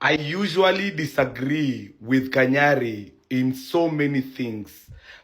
I usually disagree with Kanyari in so many things,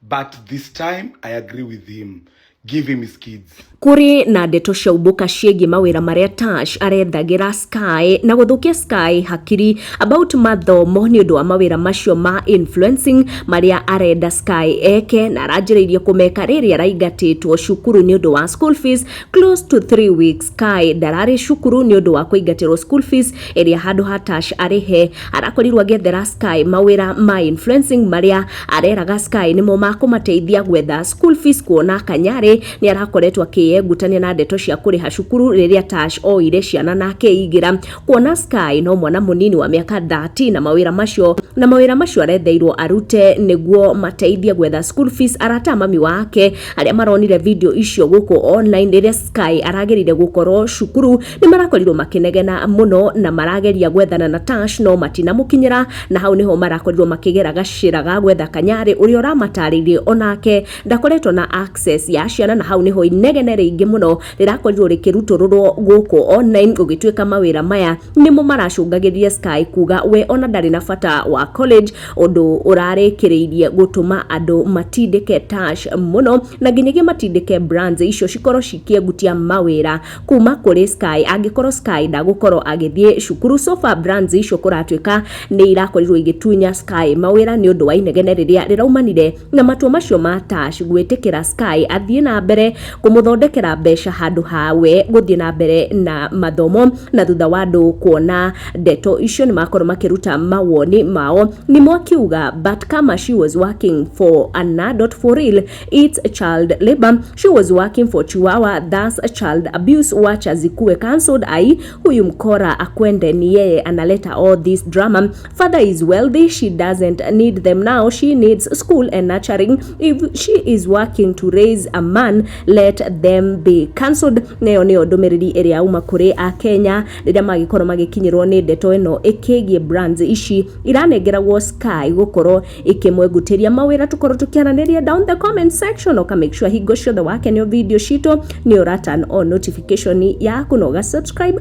but this time I agree with him. Give him his kids. Kuri na ndeto cia ubuka ciĩgiĩ mawĩra marĩa Tash arethagira Sky na gũthũkia Sky hakiri about mathomo nĩ ũndũ wa mawĩra macio ma influencing marĩa arenda Sky eke na aranjĩrĩirie kũmeka rĩrĩa araingatĩtwo cukuru nĩ ũndũ wa school fees close to 3 weeks Sky ndararĩ cukuru nĩ ũndũ wa kũingatĩrwo school fees ĩrĩa handũ ha Tash arĩhe arakorirwo agĩethera Sky mawĩra ma influencing marĩa areraga Sky nĩmo makũmateithia gwetha school fees kuona Kanyarĩ nĩ arakoretwo akĩyengutania na ndeto cia kũrĩha cukuru rĩrĩa Tash oire ciana na akeigĩra kuona Sky no mwana mũnini wa mĩaka 13 na mawĩra macio na mawĩra macio aretheirwo arute nĩguo mateithie gwetha school fees arata a mami wake Arĩa maronire video icio gũkũ online rĩrĩa Sky aragereire gũkorwo cukuru nĩ marakorirwo makĩnegena mũno na marageria gwethana na Tash no matinamũkinyĩra, na hau nĩho marakorirwo makĩgera gacĩra ga gwetha Kanyarĩ ũrĩa ũramatarĩirie onake ndakoretwo na access ya ciana, na hau nĩho inegene rĩingĩ mũno rĩrakorirwo rĩkĩrutũrũrwo gũkũ online, gũgĩtuĩka mawĩra maya nĩmo maracũngagĩrĩria Sky kuga we ona ndarĩ na bata wa college, ũndũ ũrarĩkĩrĩirie gũtũma andũ matindĩke Tash mũno na nginyagia matindĩke brands icio cikorwo cikĩengutia mawĩra kuma kũrĩ Sky angĩkorwo Sky ndagũkorwo agĩthiĩ cukuru so far brands icio kũratuĩka nĩ irakorirwo igĩtunya Sky mawĩra nĩ ũndũ wa inegene rĩrĩa rĩraumanire Na matua macio ma Tash gwĩtĩkĩra Sky athiĩ na mbere kũmũthondekera mbeca handũ ha we gũthiĩ na mbere na mathomo na thutha wa andũ kuona ndeto icio nĩ makorwo makĩruta mawoni mao Nimo akiuga but kama she was working for an adult for real it's child labor she was working for chihuahua thus child abuse wacha zikuwe cancelled ai huyu mkora akwende ni yeye analeta all this drama father is wealthy she doesn't need them now she needs school and nurturing if she is working to raise a man let them be cancelled nayo nĩyo ndũmĩrĩri ĩrĩa yauma kũrĩ a kenya rĩrĩa magĩkorwo magĩkinyĩrwo nĩ ndeto ĩno ĩkĩgiĩ brands ici iranengeragwo sky gũkorwo ikĩmwengutĩria mawĩra tũkorwo tũkĩaranĩria down the comment section oka make sure hingo ciothe wakenio video citũ nĩ ũra turn on notification yaku na ũga subscribe